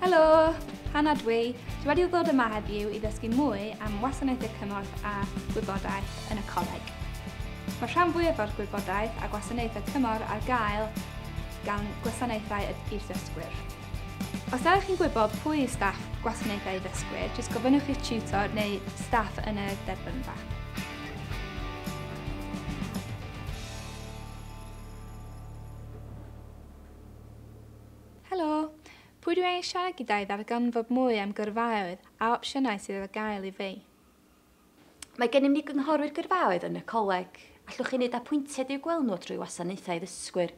Helo! Hannah dwi. Dwi wedi ddod yma heddiw i ddysgu mwy am wasanaethau cymorth a gwybodaeth yn y coleg. Mae rhan fwyaf o'r gwybodaeth a gwasanaethau cymorth ar gael gan gwasanaethau i'r ddysgwyr. Os ydych chi'n gwybod pwy yw staff gwasanaethau ddysgwyr, jyst gofynnwch i'ch tutor neu staff yn y derbynfa. Helo! Pwy dwi angen siarad gyda i ddarganfod mwy am gyrfaoedd a opsiynau sydd ar gael i fi? Mae gennym ni gynghorwyr gyrfaoedd yn y coleg. Allwch chi wneud apwyntiad i'w gweld nhw drwy Wasanaethau Addysgwyr.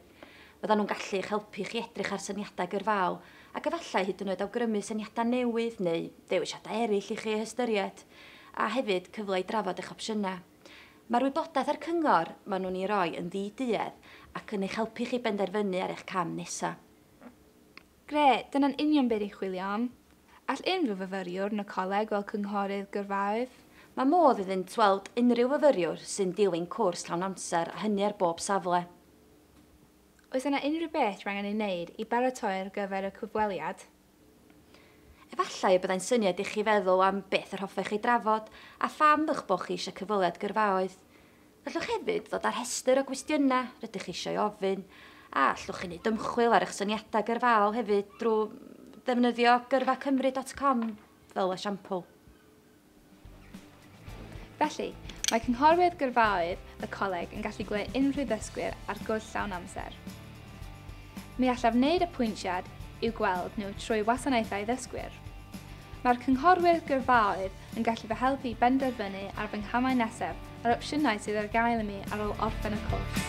Byddan nhw'n gallu eich helpu chi edrych ar syniadau gyrfaol ac efallai hyd yn oed awgrymu syniadau newydd neu ddewisiadau eraill i chi eu hystyried, a hefyd cyfle i drafod eich opsiynau. Mae'r wybodaeth a'r cyngor maen nhw'n ei roi yn ddi-duedd ac yn eich helpu chi benderfynu ar eich cam nesaf. Grêt, dyna'n union be ni'n chwilio am. All unrhyw fyfyriwr yn y coleg weld cynghorydd gyrfaoedd? Mae modd iddynt weld unrhyw fyfyriwr sy'n dilyn cwrs llawn amser a hynny ar bob safle. Oes yna unrhyw beth rwy'n angen ei wneud i baratoi ar gyfer y cyfweliad? Efallai y byddai'n syniad ichi feddwl am beth yr hoffech ei drafod a pham eich bod chi eisiau cyfweliad gyrfaoedd. Gallwch hefyd ddod â rhestr o gwestiynau rydych chi eisiau ei ofyn, a allwch chi wneud ymchwil ar eich syniadau gyrfaol hefyd drwy ddefnyddio gyrfa cymru dot com fel esiampl. Felly, mae cynghorwyr gyrfaoedd y coleg yn gallu gwneud unrhyw ddysgwyr ar gwrs llawn amser. Mi allaf wneud y pwyntiad i'w gweld nhw trwy wasanaethau ddysgwyr. Mae'r cynghorwyr gyrfaoedd yn gallu fy helpu i benderfynu ar fy nghamau nesaf a'r opsiynau sydd ar gael i mi ar ôl orffen y cwrs.